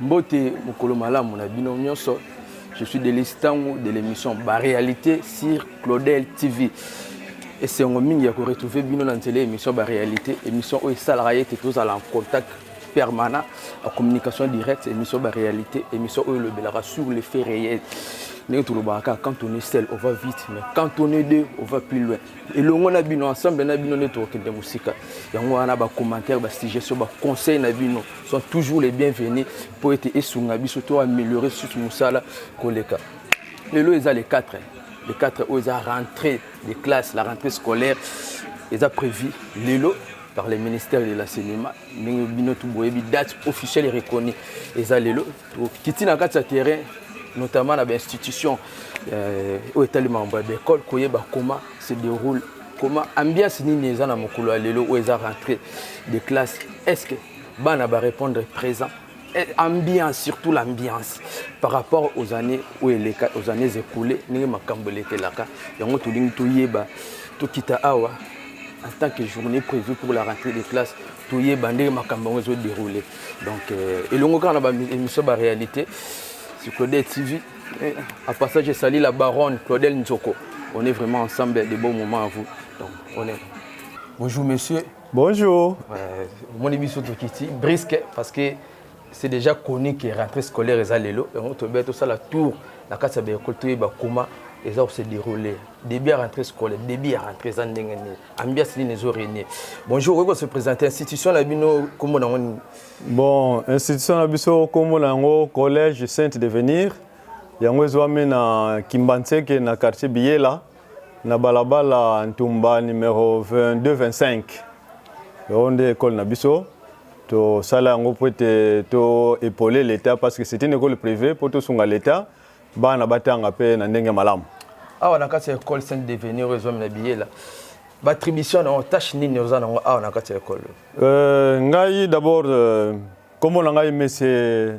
mbote mokolo malamu na bino nyonso je suis delise ntango de l'émission baréalité sur claudel tv esengo mingi ya koretrouve bino na nzela ya émission baréalité émission oyo esalaka ye ete tozala en contact permanent en communication directe émission ba réalité émission oyo elobelaka sur les faits réels ndenge tolobaka kaka quand on est seul on va vite mais quand on est deux on va plus loin elongo na bino ensemble na bino nde tokokende mosika yango wana bacommentaire basuggestion baconseil na bino sont toujours les bienvenus mpo ete esunga biso to améliorer susu mosala koleka lelo eza le 4 le 4 oyo eza rentrée de classe la rentrée scolaire eza prévu lelo par le ministère de la cinéma ndenge bino tout boyebi date officielle reconnue eza lelo tokiti na kati ya terrain notamment na bainstitution euh, oyo etali makambo ya baekole koyeba comment se déroule comment ambiance nini eza na mokolo ya lelo oyo eza rentrée de classe est ce que bana barépondre présent Eh, ambiance surtout l'ambiance par rapport aux années oyo eleka aux années écoulées ndenge makambo elekelaka yango tolingi toyeba tokita awa en tant que journée prévue pour la rentrée des classes toyeba ndenge makambo yango ezodéroule donc euh, elongo kaka na baémission baréalité sur claudel tv eh, à passage esali la baronne claudel nzoko on est vraiment ensemble de bons moments à vous donc on est bonjour monsieur Bonjour. Euh, omoni biso tokiti brisque parce que c'est déjà connu que rentrée scolaire eza lelo yango tobeya tosala tour na kati ya baekole toyeba koma eza kose déroule début ya rentrée scolaire début ya rentrée eza ndenge nini ambiance nini ezo régner bonjour okoki kose présente institution na bino nkombo na yango nini bon institution na biso nkombo na yango collège sainte devenir yango ezwami na kimbanseke na quartier biyela na balabala ntumba numero 22 25 yango nde ekole na biso tosala yango mpo ete to epole leta parce que c'est une école privée mpo tosunga leta bana batanga mpe na ndenge malamu awa na kati ya école saint devenir oyo ezwami na biyela batribution na yango tâche nini oza nango awa na kati ya ekolo euh, ngai d'abord euh, nkombo na ngai mese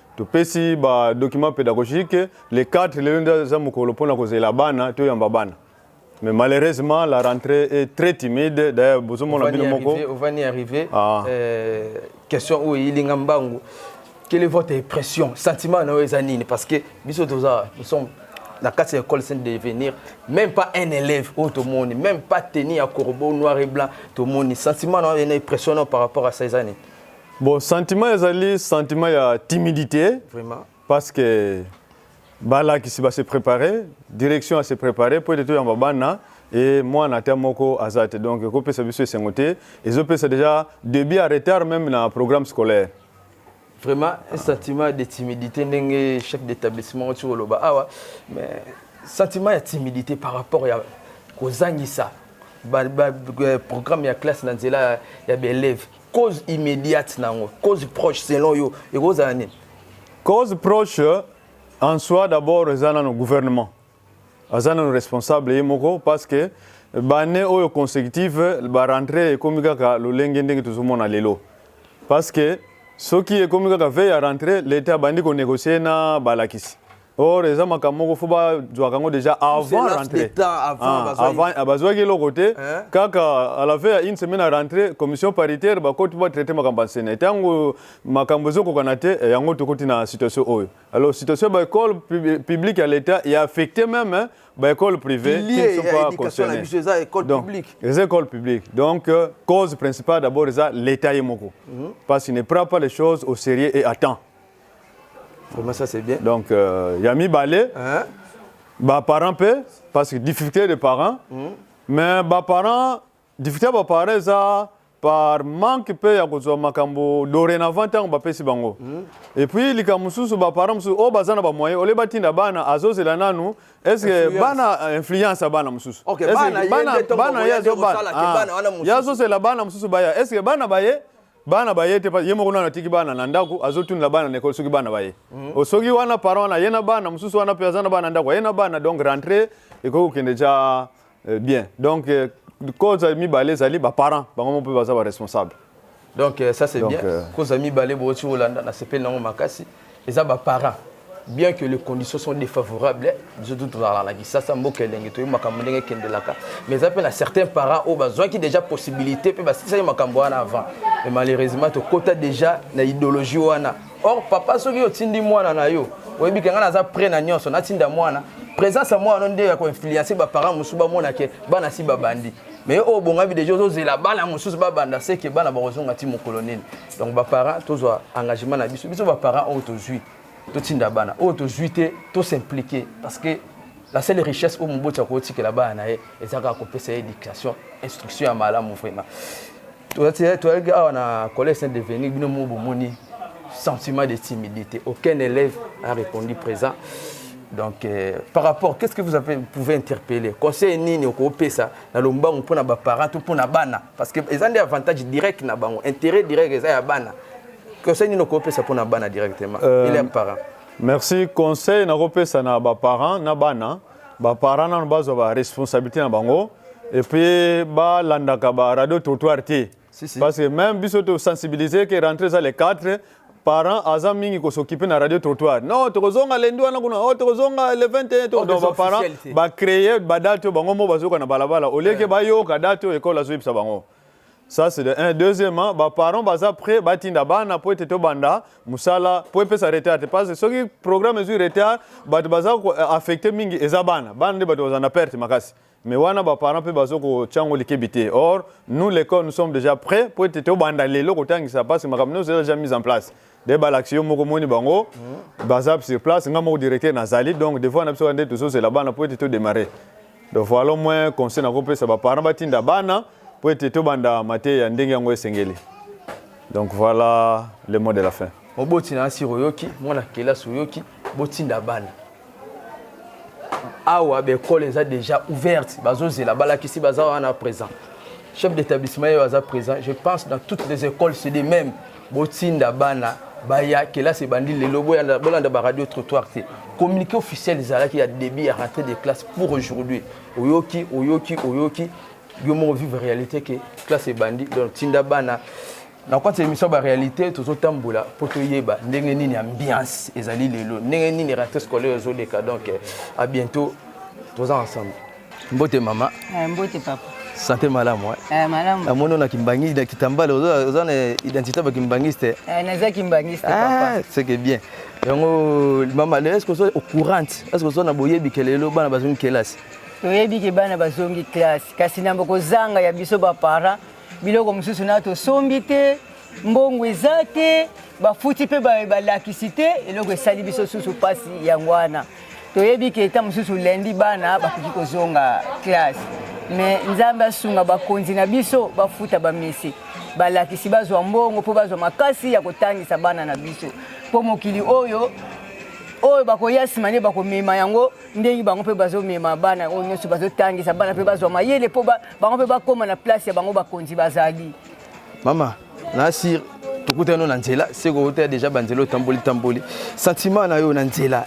topesi ba document pédagogique le 4 lelo nde aza mokolo mpona kozela bana toyamba bana mais malheureusement la rentrée est très timide d'ailleurs bozomona bino moko ovani arrivé ah. euh, question oyo eyilinga mbangu quelle est votre impression sentiment na oyo eza nini parce que biso toza nous sommes na kati ya école sainte de venir même pas un élève oyo tomoni même pas teni ya corbeau noir et blanc tomoni sentiment na oyo ena impression na par rapport à ça eza nini Bon, sentiment ezali sentiment ya timidité. Vraiment. Parce que bala qui va se préparer, direction à se préparer pour être en babana et moi na terre moko azate. Donc ko pesa biso esengo te. Ezo pesa déjà début à retard même na programme scolaire. Vraiment un sentiment de timidité ndenge chef d'établissement tu loba awa mais sentiment ya timidité par rapport ya kozangisa ba, ba, euh, programme ya classe na nzela ya ba élèves cause immédiate na yango cause proche selon yo ekozala nini cause proche en soi d'abord eza nano gouvernement aza nano responsable ye moko parce que bane oyo consécutive barentre ekomi kaka lolenge ndenge tozomona lelo parce que soki ekomi kaka vei ya rentre leta abandi konégocier na balakisi or eza makambo moko fo bazwaka yango déjà avant rentrée ah, avant ah, bazwaki eloko te eh? kaka à la fin ya une semaine à rentrée commission paritaire bakoti batraite makambo ya nsene ntango makambo ezokokana te eh, yango tokoti na situation oyo alors situation ya baekole publique ya l'état ya affecté même hein, baekole privé qui ne sont pas concernés eza école publique donc euh, cause principale d'abord eza l'état ye moko mhm. parce qu'il ne prend pas les choses au sérieux et à temps Vraiment, ça c'est bien. Donc, euh, ya mibale, Hein? ba parents pe parce que difficulté de parents, mais ba parents difficulté ba parents eza par manque pe ya kozwa makambo dorénavant ntango bapesi bango et puis likambo mosusu ba parents mosusu oyo baza na bamoyen olie batinda bana azozela nanu est ce que Influence. bana euh, influence ya bana mosusu Ok, Est-ce que bana ye nde ntongo bana ye moyen te azobana. kosala ke Ah, bana wana mosusu. ye azozela bana mosusu baya est ce que bana baye bana baye te ye moko nano atiki bana na ndako azotunela bana na ekole soki bana baye mm -hmm. soki wana parent wana aye na bana mosusu wana mpe aza na bana ndako aye na bana donc rentre ekoki kokende ja euh, bien donc euh, cause mibale ezali baparent bango mo mpe baza baresponsable donc euh, ça c'est bien cause mibale booti olanda na sepeli nango makasi eza ba parents bien que les conditions sont défavorables biso tu tozalaka na kisasa mboka elenge toyebi makambo ndenge ekendelaka mais eza mpe na certains parents oyo bazwaki déjà possibilité mpe basilisaki makambo wana avant mais malheureusement tokota déjà na idéologie wana or papa soki otindi mwana na yo oyebi ke ngai naza près na nyonso natinda mwana présence ya mwana nde ya koinfluence baparent mosusu bamona ke bana si babandi mais oyo obongami deja ozozela bana mosusu babanda seke bana bakozonga ti mokolo nini donc baparent tozwa engagement na biso biso baparent oyo tozwi totinda bana oyo tozwi te tosimplike parce que la seule richesse oyo moboti akotikela bana na ye eza kaka kopesa ye éducation instruction ya malamu vraiment toyaki awa na collège saint deveni bino mo bomoni sentiment de timidité aucun élève a répondu présent donc euh, par rapport qu'est ce que vous avez, pouvez interpeller conseil nini okopesa na lombangu mpo na baparent to mpo na bana parce que eza nde avantage direct na bango intérêt direct eza ya bana conseil nini okopesa mpo na bana directement euh, ele ya parent merci conseil nakopesa na baparent na bana baparent nano bazwa baresponsabilité na bango epuis balandaka baradio trottoir te Si, si. Parce que même biso to sensibiliser que rentrer ça les 4 parents aza mingi ko s'occuper na radio trottoir. Non, tokozonga lundi wana kuna, oh tokozonga le 21 to Oh, donc ba des parents officialités. ba créer ba date bango mo bazoka na balabala. Au lieu que ba yoka date école azo yebisa bango. Ça c'est de un. Deuxièmement, ba parents baza prêt batinda bana po ete tobanda musala po epesa retard te parce que soki programme ezwi retard bato baza ko- affecté mingi eza bana bana nde bato baza na perte makasi mais wana ba parents pe bazo ko tiango likebi te or nous l'école nous sommes déjà prêts pour être to banda lelo ko tangisa parce que makambo nous déjà déjà mise en place de balakisi yo moko moni bango mm. baza sur place nga moko directeur nazali donc devoir na biso nde tozozela bana pour être to démarrer donc voilà au moins conseil na kopesa ba parents batinda bana pour être to banda mateya ndenge yango esengeli donc voilà le mot de la fin moboti na asiro oyoki mwana kelasi oyoki botinda bana awa baekole eza déjà ouverte bazozela balakisi baza wana présent chef d'établissement ye aza présent je pense dans toutes les écoles c'est de même botinda bana baya kelasi ebandi lelo bolanda baradio trottoir te communiqué officiel ezalaki ya début ya rentrée de classe pour aujourd'hui oyoki oyoki oyoki yo moko vivre réalité ke classe ebandi donc tinda bana na kati ya émission baréalité tozotambola mpo toyeba ndenge nini ambiance ezali lelo ndenge nini rentrée scolaire ezoleka donc eh, à bientôt toza ensemble mbote mama eh, mbote papa sante malamu eh, malamu namoni ona kimbangi na kitambala oza na identité ba kimbangiste naza kimbangiste ah, seke bien yango mama lelo eske oza au courante eske oza na boyebi ke lelo bana bazongi kelasi toyebi ke bana bazongi kelasi kasi na bokozanga ya biso baparent biloko mosusu na tosombi te mbongo eza te bafuti mpe balakisi te eloko esali biso susu mpasi yango wana toyebi ke ntango mosusu lendi bana bakoki kozonga classe me nzambe asunga bakonzi na biso bafuta bamesi balakisi bazwa mbongo mpo bazwa makasi ya kotangisa bana na biso mpo mokili oyo oyo bakoya nsima nde bakomema yango ndenge bango mpe bazomema bana oyo nyonso bazotangisa bana mpe bazwa mayele mpo bango mpe bakoma na place ya bango bakonzi bazali mama nasir tokutani na nzela seko oteya deja banzela otamboli tamboli sentiment na yo na nzela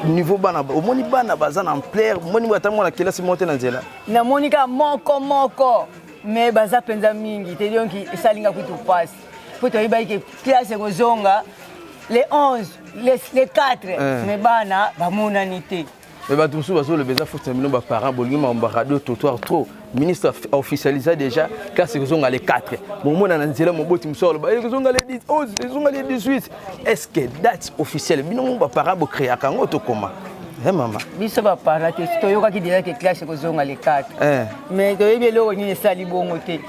niveau bana omoni bana baza na ampleur omoni ata mwana kelasi moko te na nzela namoni kaka moko moko me baza mpenza mingi te donc esali nga kutu mpasi mpo toyebaki ke classe ekozonga le 11 le 4 eh. me bana bamonani te Mais bato mosusu bazoloba eza faute na bino baparent bolingi makambo ya radio trottoir trop ministre officialisa déjà classe ekozonga le 4 bomona na nzela moboti mosusu aloba ekozonga le 11 ezonga le 18 est ce que date officielle bino mo baparent bocreaka yango tokoma Hey, eh, mama biso bapara te toyokaki deja ke classe ekozonga le 4 eh. mais toyebi eloko nini esali bongo te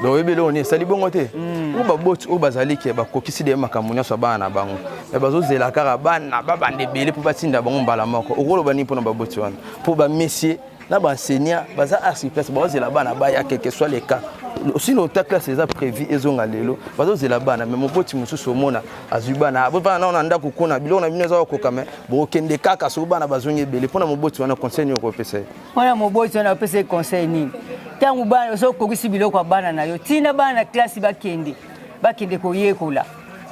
donc oyebi eloko nini esali bongo te hmm. oyo baboti oyo bazali ke bakokisi de makambo nyonso ya bana na bango me bazozela kaka bana babanda ebele mpo batinda bango mbala moko okoloba nini mpo na baboti wana mpo bamesie na baenseignant baza arsiplace bazozela bana baya quelque soit le cas osino ota classe eza prévu ezonga lelo bazozela bana me moboti mosusu omona azwi bana bovana nao na ndako kuna biloko na bino eza kokoka me bokokende kaka soki bana bazongi ebele mpo na moboti wana conseil nini okopesa ye mwana moboti wana opesa ye conseil nini ntango bana oso okokisi biloko ya bana na yo ntina bana na klasi bakende bakende koyekola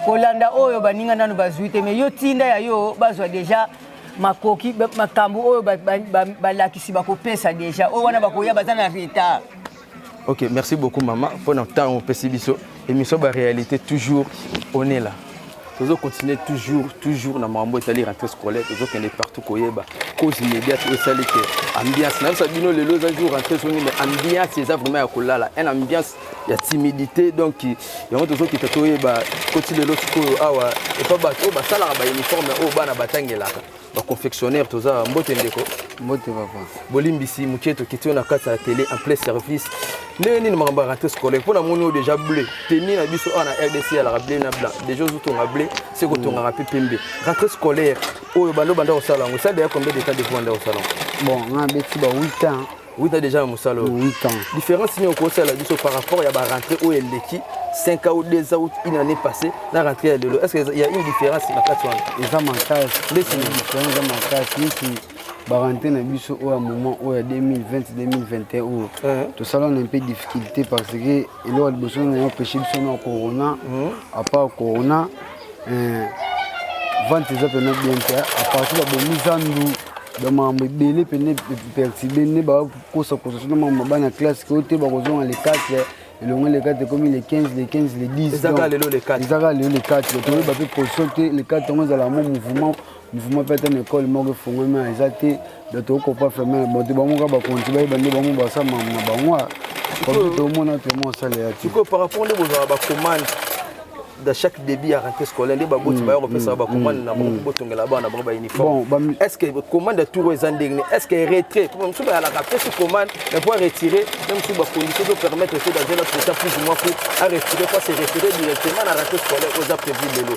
kolanda oyo baninga nano bazwi te me yo ntinda ya yo bazwa deja makoki makambo oyo balakisi bakopesa deja oyo wana bakoya baza na retard Ok, merci beaucoup maman pour notre temps au Pessibiso. Émission ba réalité toujours on est là. Toujours continuer toujours toujours na mambo etali rentrée scolaire toujours kende partout koyeba cause immédiate esali que ambiance na ça bino lelo za jour rentrée soni mais ambiance eza vraiment ya kolala un ambiance ya timidité donc yango toujours kita toyeba koti lelo sikoyo awa epa bato oyo basalaka ba uniforme oyo bana batangelaka ba confectionnaire toza mbote ndeko mbote papa bolimbisi mokie tokiti yo na kati ya tele en plein service ndenge nini makambo ya rentrée scolaire mpo namoni oyo déjà bleu teni na biso awa na rdc alaka bleu na blanc déjà ozotonga bleu se kotongaka mpe pembe rentrée scolaire oyo bando banda kosala yango esala deya combien de temps depuis banda kosala yango bon nga beti ba 8 ans 8 ans déjà na mosala oyo 8 ans différence nini okosala biso par rapport ya barentrée oyo eleki 5 ans ou 2 ans ou une année passée na rentrée ya lelo est ce que ya une différence na kati wana eza makasi ndesi différence eza makasi neti barentrée na biso oyo ya moment oyo ya 2020 2021 oyo tosala na mpe difficulté parce que eloko liboso na empêche biso na corona apart corona eh, vente eza mpena bien te apartir babomi zandu bamakambo ebele mpene pertibe nde bakosakosa sona makambo mabana ya classe ke oyo te bakozonga le 4 elongo le 4 ekomi le 15 le 15 le 10 ezaka lelo le 4 toyeba mpe position te le 4 yango ezala yango mouvement Mouvement peut-être une école moko efungwami eza te donc tokokopa ferme bato bango kaka bakonzi bayeba nde bango basala mamu na bango comme tomona temo osala ya te par rapport nde bozala bacommande dans chaque début ya rentrée scolaire nde baboti mm, bayo kopesa mm, bacommande mm, na bango botongela bana bango bauniforme est ce que commande ya tour eza ndenge est ce que retrait po mosusu bayalaka pesi commande mais po aretire na mosusu bacondition to permettre te dans un autre état plus ou moins po aretire po se référer directement na rentrée scolaire oyo eza prévu lelo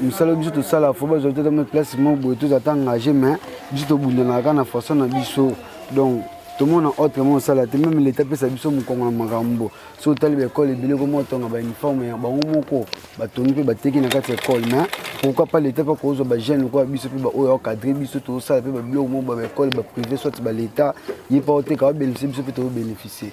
mosala biso tosala fo bazwa te tama place moko boye tozala ta engage mais biso tobundanaka kaka na façon na biso donc tomona autre mo osala te meme leta apesa biso mokongo na makambo so otali baekole ebele koma otonga bauniforme ya bango moko batongi mpe bateki na kati ya ekole mais pourquoi pas leta mpe akozwa bajeune lokola biso mpe baoyo akadre biso tozosala mpe babiloko moko babaekole baprive soit baleta ye mpe oteka babénéficie biso mpe tobobénéficie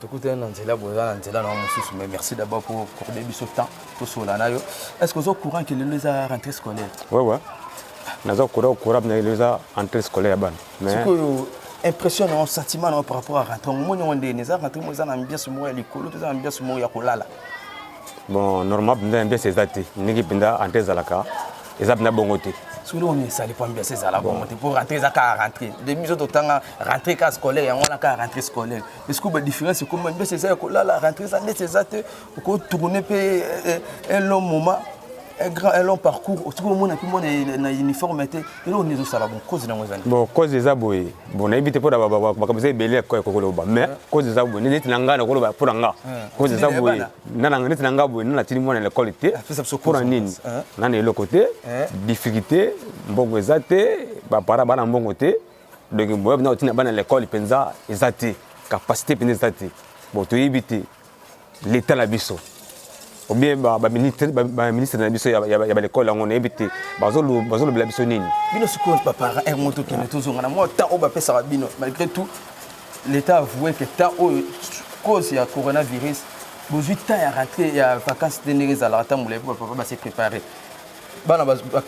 tokutani na nzela boye eza na nzela na mosusu mais merci d'abord pour accorde biso temps tosola na yo est ce que oza courant ke lelo eza rentrée scolaire wewe naza courant courant na lelo eza rentrée scolaire ya bana sikoyo impression na sentiment na par rapport à rentrée omoni yango ndene eza rentrée mo eza na ambiance moko ya likolo to eza na ambiance moko ya kolala bon normal mpenza ambiance eza te ndenge mpenza rentrée ezalaka eza mpenza bongo te solo oyo esali po ambiance ezala bongo te po rentrée eza kaka rentrée de biso totanga rentrée ka scolaire yango wana kaka rentrée scolaire Est-ce que ba différence comme même c'est ça ko la la rentrer ça c'est ça te ko tourner pe eh, eh, un long moment un grand un long parcours au tout monde puis moi na uniforme te et là on est au sala bon cause na moi bon cause des aboye bon na bité pour ba ba ba comme c'est belé ko ko loba mais cause des aboye net na ngana ko loba pour nga cause des aboye na na net na ngaboye na tini moi na l'école te pour en nini na na le côté difficulté mbongo ezate ba para bana mbongo te donc moyen mpena kotina bana lekole mpenza eza te capacité mpenza eza te bon toyebi te leta na biso obien baministre na biso ya balekole yango nayebi te bazolobela biso nini bino sikoyo baparent eh, moto kende tozonga na mwa temps oyo bapesaka bino malgré tout l'état avoue que temps oyo cause ya coronavirus bozwi temps ya rentré ya vacances te ndenge ezalaka ntango molai mpo bapapa base préparé bana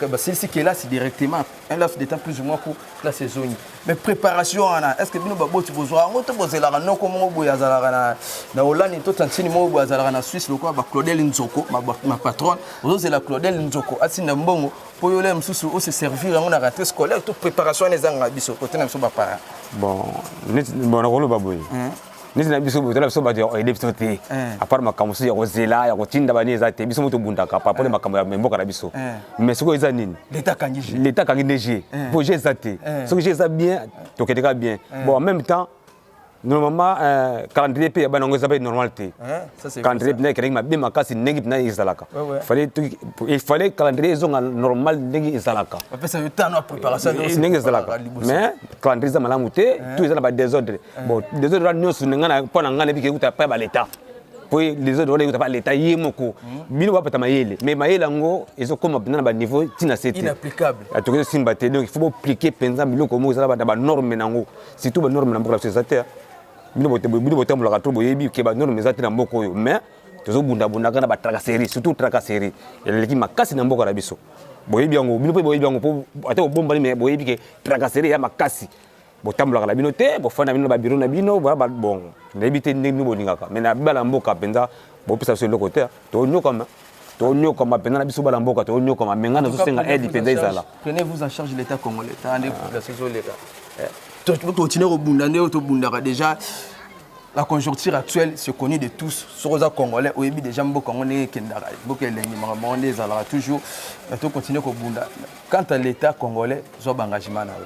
basilisi kelasi directement un laps de temps plus ou moins ko place ezongi mais préparation wana est ce que bino baboti bozwa yango to bozelaka noko moko boye azalaka na na holandi to tantini moko boye azalaka na suisse lokola ba claudel nzoko ma patronne ozozela claudel nzoko atinda mbongo mpo yo le mosusu ose servir yango na rentrée scolaire to préparation wana ezangaka biso kote na biso baparent bon nakoloba boye hmm. neti na biso boye tala biso bato ya oyede biso te eh. apart makambo mosusu ya kozela ya kotinda bani eza te biso mo tobundaka paraport na eh. makambo ya mboka na biso eh. mais soki eza nini leta akangi nde je po je eza te soki je eza bien tokende kaka bien bon en même temps normalement euh, calendrier mpe ya bana yango eza mpe normal te calendrier mpena ekelaki mabe makasi ndenge mpena ezalaka il fallait calendrier ezonga normal ndenge ezalaka ndenge ezalaka mais calendrier eza malamu te tout eza na badésordre bon desordre wana nyonso mpo na ngai nayebi kekuta epai ba leta mpo desordre wana ekota ba leta ye moko hmm. bino bapata mayele mais mayele yango ezokoma mpenza na baniveau ntina se te ah, tokoki tosimba te donc ifo boplike mpenza biloko moko ezala na banorme na yango surtout banorme na mboka na biso eza te bino botambolaka to boyebi ke banorme eza te na mboka oyo mais tozobundabundaka na batracasserie surtout tracasserie eleki makasi na mboka na biso boyebi yango bino mpe boyebi yango ata bobombani mais boyebi ke tracasserie ya makasi botambolaka na bino te bofanda na bino na babiro na bino boya babongo nayebi te ndenge bino bolingaka mai na bala mboka mpenza bopesa biso eloko te tonyokama tonyokama mpenza na biso bala mboka tonyokama me ngai nazosenga aide mpenza ezala prenez vous en charge l'état congolais ta nde population ah. ezoleka eh. continue kobunda nde oyo tobundaka déjà la conjoncture actuelle se connue de tous soki oza congolais oyebi déjà mboka yango ndenge ekendaka mboka elengi makambo yango nde ezalaka toujours tocontinue kobunda quant à l'état congolais zwa ba engagement na yo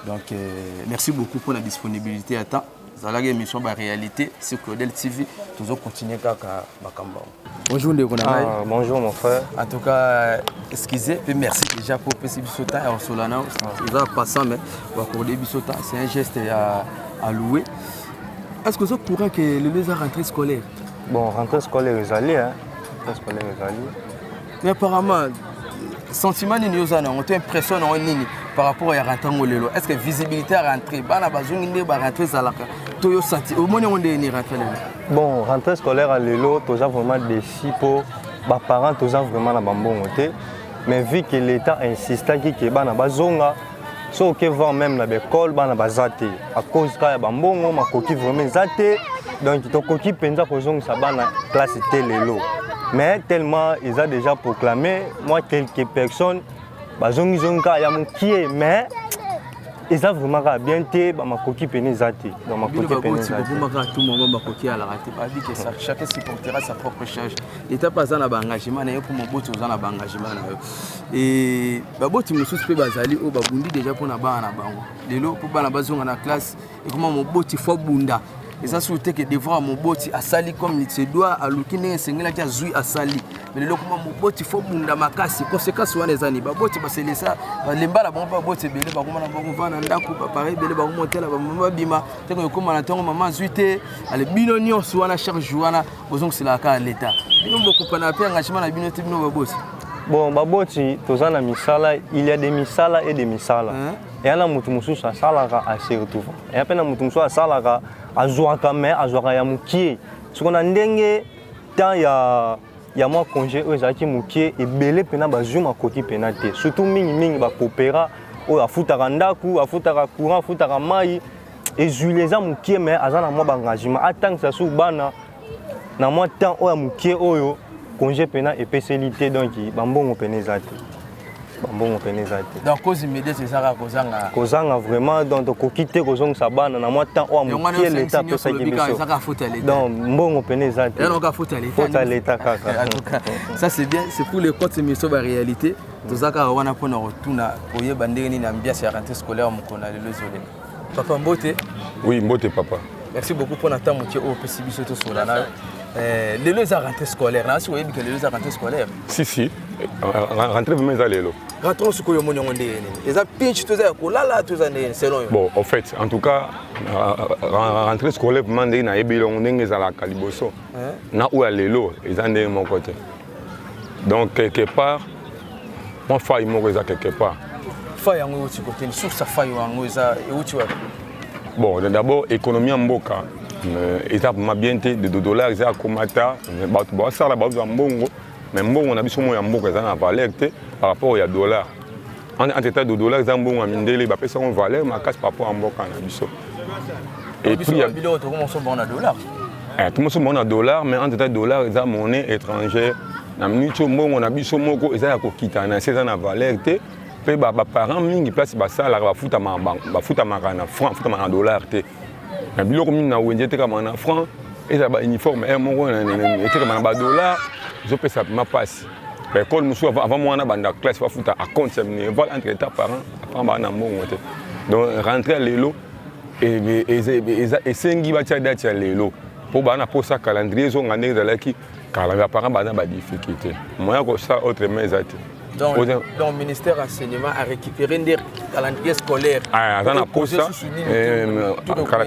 donc euh, merci beaucoup pour la disponibilité ya temps zalaki émission ba réalité sur Claudel TV tozo continuer kaka makambo bonjour ndeko na ngai ah, bonjour mon frère en tout cas excusez puis merci déjà pour pesi biso temps ya osola na eza passant mais bakorde biso temps c'est un geste ya à louer est-ce que oza courant que lelo eza rentrée scolaire bon rentrée scolaire ezali hein rentrée scolaire ezali Mais apparemment, sentiment nini oza na yango to impression na yango nini par rapport ya rentango lelo est ce que visibilité ya rentrée bana bazongi nde barentrée ezalaka to yo senti omoni yango ndenge nini rentrée lelo bon rentrée scolaire ya lelo toza vraiment déci mpo baparent toza vraiment na bambongo te mais vu que l'état insistaki ke bana bazonga soki oke voir meme na baekole bana baza te à cause kaka ya bambongo makoki vraiment eza te donc tokoki mpenza kozongisa bana classe te lelo mais tellement eza déjà proclamé moi quelques personnes bazongizongi kaka ya mokie mais eza vraiment kaka bien te bamakoki pene eza te bamakoki pene eza te bobomaka tout moment bakoki alaka te babi que ça chacun supportera sa propre charge leta mpe aza na ba engagement na ye mpo moboti oza na ba engagement na yo baboti mosusu mpe bazali oyo babundi deja mpo na bana na bango lelo mpo bana bazonga na classe ekoma moboti fo abunda eza suru te ke devoir moboti asali comme se doit aluki ndenge esengelaki azwi asali mais lelo ekoma moboti fo bunda makasi conséquence wana eza nini baboti baselesa balemba na bango mpe baboti ebele bakoma na bango va na ndako bapare ebele bakomotela bamama babima ntango ekoma na ntango mama azwi te ale bino nyonso wana chaque jour wana bozongiselaka kaka leta bino bokopana mpe engagement na bino te bino baboti bon baboti toza na misala il y a des misala et des misala eya na moto mosusu asalaka asertuva eya mpe na moto mosusu asalaka azwaka mai azwaka ya mokie soko na ndenge temps ya ya mwa congé oyo ezalaki mokie ebele mpena bazwi makoki mpena te surtout mingimingi bakopera oyo afutaka ndako afutaka courant afutaka mai ezwili eza mokie me aza na mwa baengagement atangisa su bana na mwa temps oyo ya mokie oyo congé mpena epeseli te donc bambongo mpena eza te bambongo mpena eza te donc cause immédiate ezaka kozanga kozanga vraiment donc tokoki te kozongisa bana na mwa temps oyo ya mokie leta apesaki biso donc mbongo mpena eza te fota leta kaka ça c'est bien c'est pour les comptes miso ba réalité tozaka wana mpona kotuna koyeba ndenge nini ambiance ya rentrée scolaire mokolo na lelo ezoleka Papa Mbote. Oui, Mbote papa. Merci beaucoup pour notre temps, monsieur. Oh, petit bisous tout sur la nave. Euh, lelo eza rentrée scolaire nasi oyebi ke lelo eza rentrée scolaire si si rentrée vraiment eza lelo rentrée soko yo omoni yango ndenge nini eza pinch to eza ya kolala to eza ndenge selon yo bon en fait en tout cas rentrée scolaire vraiment ndenge nayebi yango ndenge ezalaka liboso na oyo ya lelo eza ndenge moko te donc quelque part mwa fai moko eza quelque part fai yango euti koteni source ya fai yango eza euti wapi bon d'abord économie ya mboka euh, eza ma bien te de dollar eza akomata euh, bato basala bazwa mbongo mais mbongo na biso moko ya mboka eza na valeur te par rapport ya dollar En entre temps, dodola eza mbongo ya mindele bapesi yango valeur makasi par rapport ya mboka na biso. Et puis ya biloko tokomi koso mbongo na dollar. Eh, tokomi koso mbongo na dollar mais entre temps dollar eza monnaie étrangère na minute oyo mbongo na biso moko eza ya kokita na se eza na valeur te mpe baparent mingi place basalaka bafutamaka na franc bafutamaka na dollar te na biloko mingi na wenze etekamaka na franc ezala bauniforme r moko etekamaka na badollar ezopesa mpenza mpasi ba école mosusu avant mwana banda classe bafuta à compte ya minerval entre état parent apart baa na mbongo te donc rentre ya lelo esengi batya date ya lelo mpo baa na mposa calendrier ezonga ndenge ezalaki kala ba parent baa na badifficulté moyen kosala autrement eza te donc, Oza... donc ministère enseignement a récupéré nde calendrier scolaire aza na mposa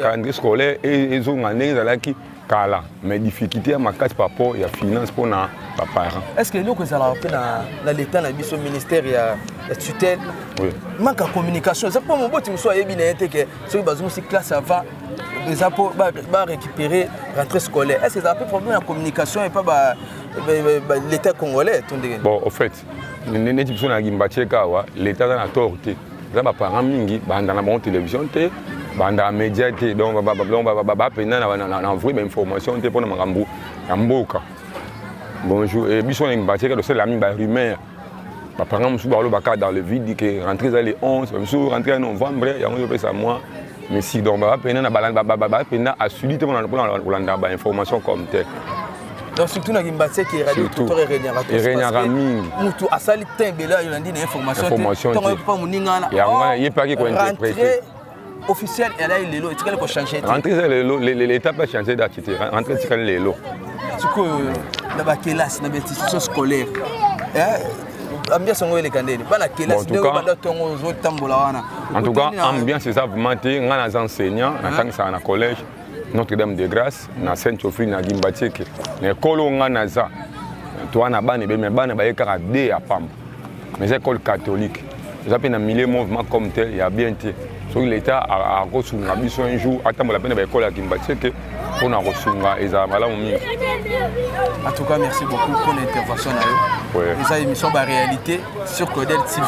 calendrier scolaire ezonga ndenge ezalaki e, e, e, kala mais difficulté ya makasi par rapport ya finance mpo na baparent est ce que eloko ezalaka mpe na leta na biso ministère ya tutelle oui. manque ya communication eza mpo moboti mosusu ayebi na ye te ke soki bazongisi classe avant eza mpo barécupérer rentrée scolaire est ce que ezala mpe problème ya communication epa ba, ba, ba, ba, l'état congolais to ndenge bon au fait neti biso na gimbacheka awa leta aza na tor te eza baparent mingi banda na bango télévision te banda média te donc bapenda na vrai bainformation te mpo na makambo ya mboka bonjour eh, biso na gimbacheka tosalela mingi barumeur baparent mosusu balobaka dans le vide ke rentré eza le 11 biso rentré ya novembre yango ezopesa mwa mesi donc baza mpena na baza mpena asudi te mpona kolanda bainformation comme tel donc surtout na kimbatie ke radio tutor eregnaka eregnaka mingi mutu asali tin ebele ayo nandi na information ntongo yo mpa moninga wana yango wana ye mpe ake kointerprete officiel elai lelo etikali kochange te rentre eza lelo leta mpe achange date te rentre etikali lelo sikoyo na bakelasi na bainstitution scolaire ambiance yango eleka ndeni bana kelasi nde obanda ntongo ozotambola wana en tout cas ambiance eza vraiment te ngai naza enseignant natangisaka na collège notre dame de grâce na saint trophi na gimbatieke na ekolo ngai naza toa na bana ebele me bana baye kaka de ya pamba mais eza ekole catholique toza mpe na milieu mouvement comme tel ya bien te soki leta akosunga biso un jour atambola mpe na baekole ya kimbatieke mpo na kosunga ezala malamu mingi en tout cas merci beaucoup mpo na intervention na yo eza émission ba réalité sur codel tv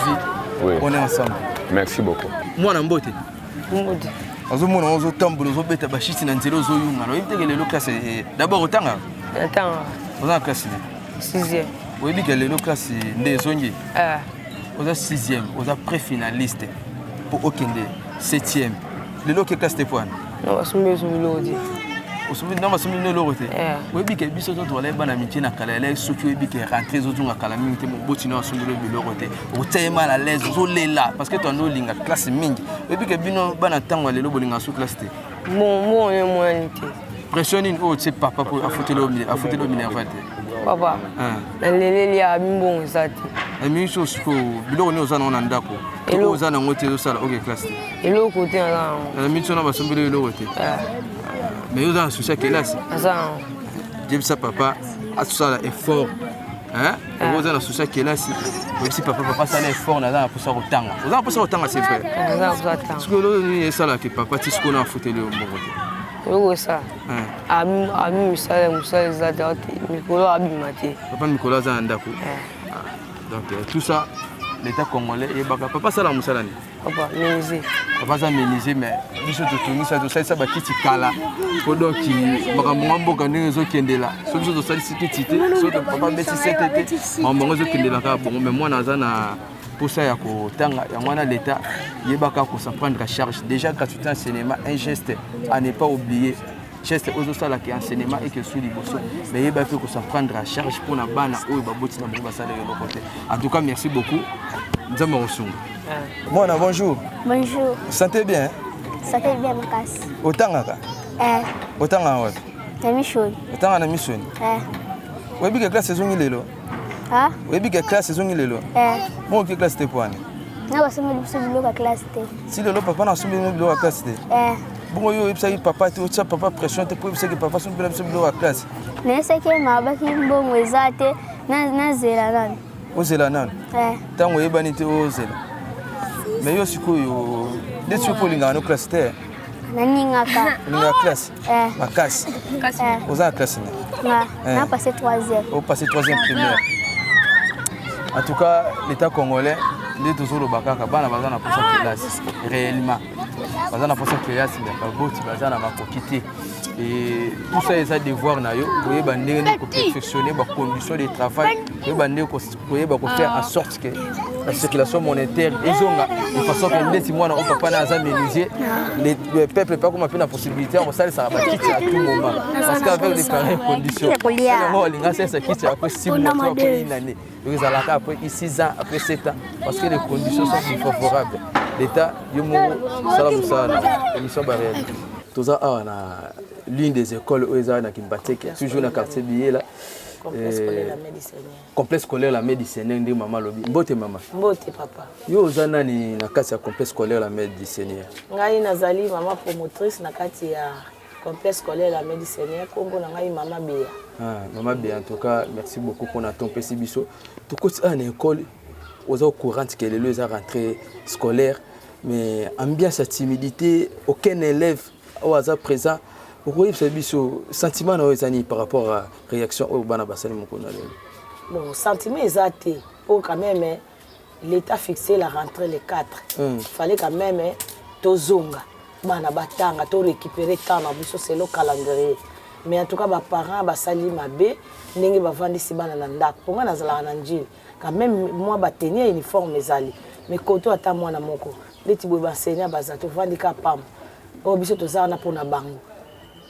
oui. on est ensemble merci beaucoup mwana mbote mbote azomona ngo ozotambola ozobeta bashiti na nzela ozoyunga na oyebi teke lelo classe eh, eh, d'abord otanga otanga oza na classe nini sixième oyebi ke lelo classe nde ezongi ah. oza sixième oza pré finaliste mpo okende septième lelo oke classe te poana basombi osombi loko te osombi na basombi bino eloko te eh. oyebi ke biso to tozalaki bana mikie na kala elai soki oyebi ke rentre ezozonga kala mingi te moboti na osombi lobi biloko te otia ye mal à l'aise ozolela parce que toando olinga classe mingi oyebi ke bino bana ntango ya lelo bolinga so classe te Bon, bon, on est moins alité. Pression nini oyo tse papa po afuteli yo mine- afuteli yo minerva te Papa, Hein. na leleli ya bimbongo eza te. na mingi so sikoyo biloko nini oza nango na ndako to Eloko. oyo oza nango te ezosala oke classe te Eloko te naza nango. na mingi so na basombeli yo eloko te Eh, mais yo oza na souci ya kelasi Naza nango. jebisa papa asala effort hein? yango oza na susi ya kelasi oyebisi papa papa asala effort naza na mposa kotanga oza na mposa kotanga se vrai soki olo nini esalaki papa ti sikoyo na afuteli yo mbongo te oyokosa abi misala ya mosala eza te mikolo abima te papa mikolo aza na ndako donc euh, tout ça l'état congolais eyebaka papa asala mosala nini Papa menuisier. Papa aza menuisier mais biso totungisa tosalisa bakiti kala po donc makambo nga mboka ndenge ezokendela so biso tosalisi kiti te so papa beti sete te makambo yango ezokendela kaka bongo mais mwana aza na mposa ya kotanga yango wana leta yebaka kosaprendre charge déjà quand tu es en cinéma un geste à ne pas oublier geste oyo ezosalaka ya enseignement eke esu liboso me yeba mpe kosaprendre a charge mpo na bana oyo baboti na bango basala eloko te en tout cas merci beaucoup nzambe akosunga mwana bonjour bonjour sante bien sante bien makasi otangaka eh. otangaka wapi na misoni otangaka na misoni eh. oyebi ke classe ezongi lelo Ah? oyebi ke classe ezongi lelo eh. moko oke classe te poani na basombeli biso biloko ya classe te si lelo papa na asombeli bino biloko ya classe te eh. bongo yo oyebisaki papa te otya papa pression te mpo oyebisaki papa asombela biso biloko ya classe nayesaki ye mabaki mbongo eza te nazela nani ozela nani eh. ntango oyebani te ozela mais yo sikoyo nde soki olingaka no classe te nalingaka olingaka classe Eh. makasi eh. oza na classe nini eh. na passé 3e o passé 3e primaire en tout cas l'état congolais nde tozoloba kaka bana baza na posa kelasi réellement baza na posa kelasi me baboti baza na makoki te et tout ça eza devoir na yo koyeba ndenge nini koperfectionne bacondition de travail koyeba ndenge koyeba ko faire en sorte que la circulation monétaire ezonga de façon que ndeti mwana oyo papa na aza menuisier le peuple mpe akoma mpe na possibilité ya kosalisaka bakiti à tout moment parce que avec les pareilles conditions yango olinga salisa kiti après six mois to après une année donc ezalaka après six ans après sept ans parce que les conditions sont plus favorables l'état yo moko sala mosala na émission baréalité toza awa na l'une des écoles oyo ezalaka na kimbateke toujours na quartier biyela complexe scolaire la medi seigneur ndenge mama alobi mbote mama mbote papa yo oza nani na kati ya complexe scolaire la medi seigneur ngai nazali mama promotrice na kati ya complexe scolaire la medi seigneur nkombo na ngai mama bea ah, mama bea en tout cas merci beaucoup mpona to mpesi biso tokoti awa ah, na ekole oza courante ke lelo eza rentrée scolaire mais ambiance ya timidité aucun élève oyo aza présent okoyebisa biso sentiment na oyo eza nini par rapport à réaction oyo bana basali mokolo na lelo bon sentiment eza te mpo quand même eh, l'état fixé la rentrée le 4 mm. fallait quand même eh, tozonga bana batanga to récupérer temps na biso selo calendrier mais en tout cas baparent basali mabe ndenge bavandisi bana na ndako mpo ngai nazalaka na njili quand même mwa ba tenue ya uniforme ezali mais koto ata mwana moko ndeti boye banseignant baza tovandi ka pamba oyo biso toza wana mpona bango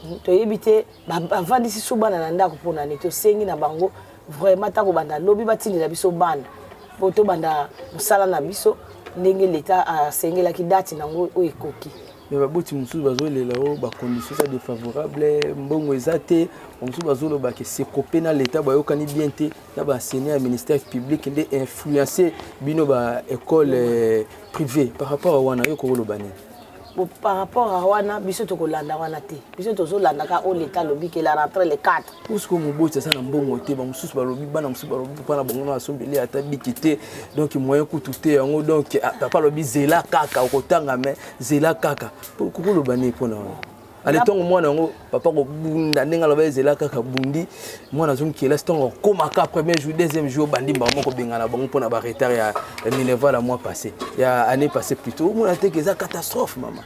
hmm, toyebi te bavandisi su bana na ndako mpona nini tosengi na bango vraiment ata kobanda lobi batindela biso bana mpo tobanda mosala na biso ndenge leta asengelaki dati nango oyo ekoki me baboti mosusu bazolela o bacondition eza défavorable mbongo eza te bamosusu bazolobake sekope na leta bayokani bien te na ba enseignants ya ministère public nde influencer bino ba école euh, privée par rapport à wana yo kokoloba nini Bon, par rapport à wana biso tokolanda wana te biso tozolanda ka oyo leta alobi ke la rentre le 4 puisque moboti aza na mbongo te bamosusu balobi bana mosusu balobi papa na bango na asombeli ata biki te donc moyen kutu te yango donc ah, papa alobi zela kaka okotanga me zela kaka kokoloba nini mpo na wana ale ntongo mwana yango papa kobunda ndenge aloba ezela kaka bundi mwana azongi kelasi ntongo akomaka premier jour deuxième jour obandi mbao moko bengana bango mpo na baretard ya minerval ya mois passé ya année passé plutôt omona te ke eza catastrophe mama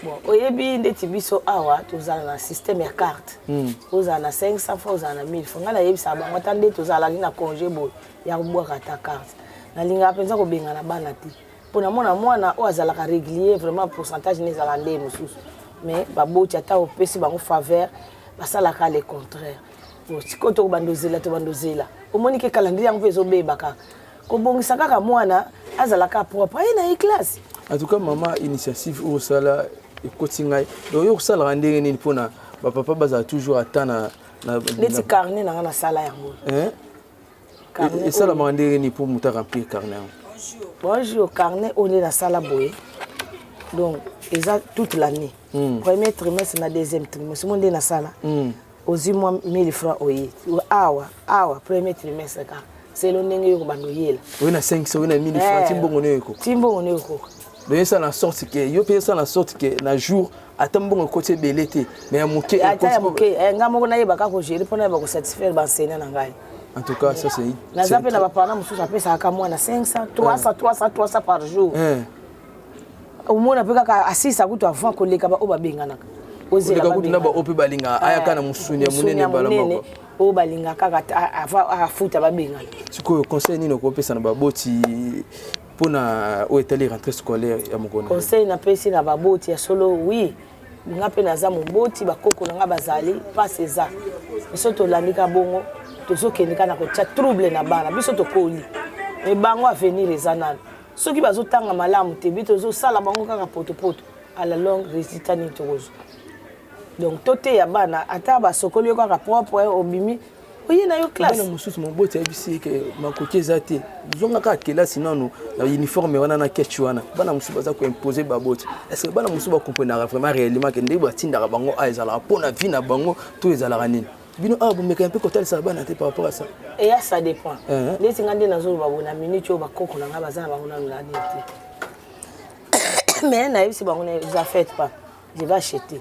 bon oyebi ndeti biso awa tozala na système ya carte hmm. ozala na 500 fois ozala na 1000 fois ngai nayebisaka bango ata nde tozalaki na congé boye ya kobwaka ata carte nalingaka mpenza kobengana bana te pona mwana mwana oyo azalaka régulier vraiment pourcentage ne ezala nde mosusu mais baboti ata opesi bango faveur basalaka le contraire sikoyo tokobanda ozela tobanda ozela omoni ke calendrier yango mpe ezobeba kaka kobongisa kaka mwana azalaka propre aye na ye classe en tout cas mama initiative oyo osala ekoti ngai donc yo kosalaka ndenge nini mpona bapapa bazala toujours ata na neti carnet na ngai nasala yango esalamaka ndenge nini mpo moto aremplir carnet yango bonjour carnet oyo nde nasala boye donc eza toute l'année mm. premier trimestre na deuxième trimestre mo nde nasala mm. ozwi mwa 1000 franc oye awa awa premier trimestre kaka selo ndenge yo kobanda oyela oye na 5 oye na 1000 franc eh. timbongo nde oyekoka timbongo nde oyekoka donc esala na sorte ke yo mpe esala na sorte ke na jour ata mbongo ekoti ebele te me ya moke ata ya moke eh, ngai moko nayebaka kogere mpo nayeba kosatisfaire banseignant na ngai en tout cas ça c'est naza mpe na bapana mosusu apesaka mwana 500 300 300 300 par jour eh. omona mpe kaka asisa kutu avant koleka baoyo babenganaka ozela kutu na baoyo mpe balingaka eh, ayaka na mosuni ya monene mbala moko oyo balingaka kaka afuta babengana sikoyo conseil nini okopesa na baboti mpo na oyo etali rentrée scolaire ya mokona conseil napesi na baboti ya solo wi nga mpe naza moboti bakoko na nga bazali mpasi eza biso tolandi ka bongo tozokende ka na kotya trouble na bana biso tokoli me bango avenir eza nano soki bazotanga malamu te bi tozosala bango kaka potopoto à la longue résultat nini tokozwa donc toteya bana ata basokoli yo kaka propre obimi oye na yo classe bana mosusu moboti ayebisi ye ke makoki eza te zonga kaka kelasi nano na uniforme wana na ketch wana bana mosusu baza koimpose baboti estce bana mosusu bakomprenaka vraiment réellement ke ndenge batindaka bango a ah, ezalaka mpo na vie na bango to ezalaka nini bino awa ah, bomekaka mpe kotalisaka bana te par rapport à ça eya ça dépend neti nga nde nazoloba boye na minute oyo bakoko na ngai baza na bango nano nani te mais nayebisi bango ne vous affaites pas je vais acheter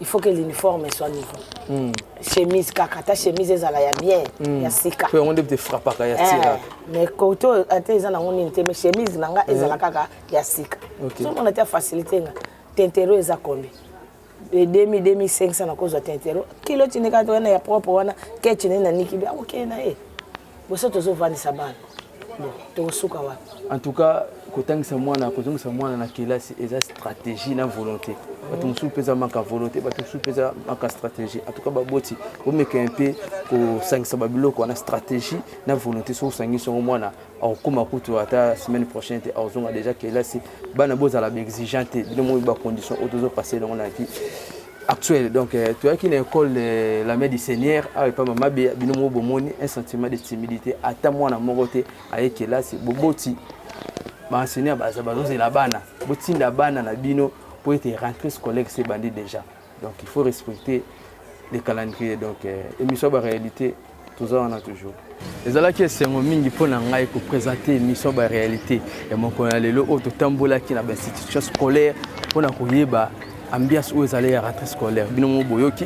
il faut que l'uniforme soit nouveau mm. chemise kaka ta chemise ezala ya bien mm. ya sika po yango nde te frappaka ya tiraka eh, mais kote oyo ata eza nango nini te mais chemise na nga ezala eh. kaka ya sika okay. somona te facilité nga tentero eza kombi edemi 2500 nakozwa tentero kilo tindika to wana ya propre wana kecine na niki bi akokende na ye boso tozovandisa bana bon tokosuka wapi en tout cas kotangisa mwana kozongisa mwana na kelasi eza stratégie na volonté bato mosusu mpeza maka volonté bato mosusu mpeza maka stratégie en tout cas baboti bomeka mpe kosangisa babiloko wana stratégie na volonté soki osangisi yango mwana akokoma kutu ata semaine prochaine te akozonga déjà kelasi bana bozala baexigent te bino moi bacondition oyo tozopase yango na vie actuel donc euh, toyaki na école euh, la main du seigneur awa epa mama beya bino moko bomoni un sentiment de timidité ata mwana moko te aye kelasi boboti baenseigneur baza bazozela bana botinda bana na bino mpo ete rentrée scolaire se bandi déjà donc il faut respecter les calendriers donc euh, émission ya baréalité toza wana toujours ezalaki esengo mingi mpo na ngai kopresente émission baréalité ya mokolo ya lelo oyo totambolaki na bainstitution scolaire mpo na koyeba ambiance oyo ezali ya rentrée scolaire bino moko boyoki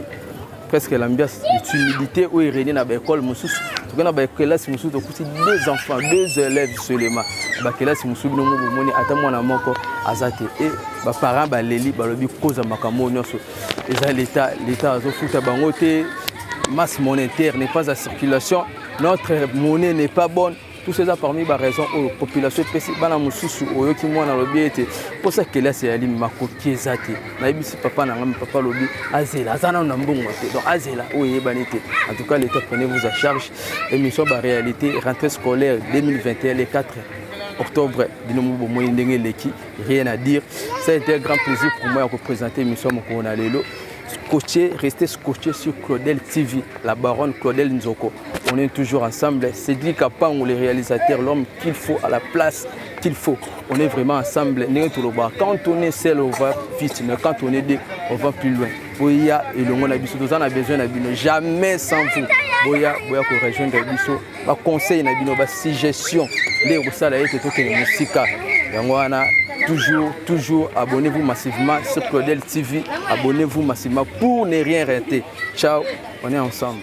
presque l'ambiance d'humilité oyo erenie na baekole mosusu toke na bakelasi mosusu tokuti deux enfants deux élèves seulement bakelasi mosusu bino moko bomoni ata mwana moko aza te e baparent baleli balobi koza makambo oyo nyonso eza leta leta azofuta bango te masse monétaire n'est pas à circulation notre monnaie n'est pas bonne tout ça eza parmi baraison oyo population epesi bana mosusu oyoki mwana alobi ete mposa kelasi ya limi makoki eza te nayebisi papa na ngai papa alobi azela aza nano na mbongo te donc azela oyo eyebani te en tout cas l'état prenez vous à charge émission baréalité rentrée scolaire 2021 le 4 octobre bino mo bomoi ndenge eleki rien à dire ça a été un grand plaisir pour moi ya kopresente émission mokolo na lelo scotché restez scotché sur claudel tv la baronne claudel nzoko on est toujours ensemble cédric apango le réalisateur l'homme qu'il faut à la place qu'il faut on est vraiment ensemble ndenge tolobaka quand on est seul on va vite mais quand on est deux on va plus loin boya elongo na biso toza na besoin na bino jamais sans vous boya boya korejoindre biso baconseil na bino basuggestion nde ekosala ete tokende mosika yango wana toujours toujours abonnez-vous massivement sur claudel tv abonnez-vous massivement pour ne rien rater ciao on est ensemble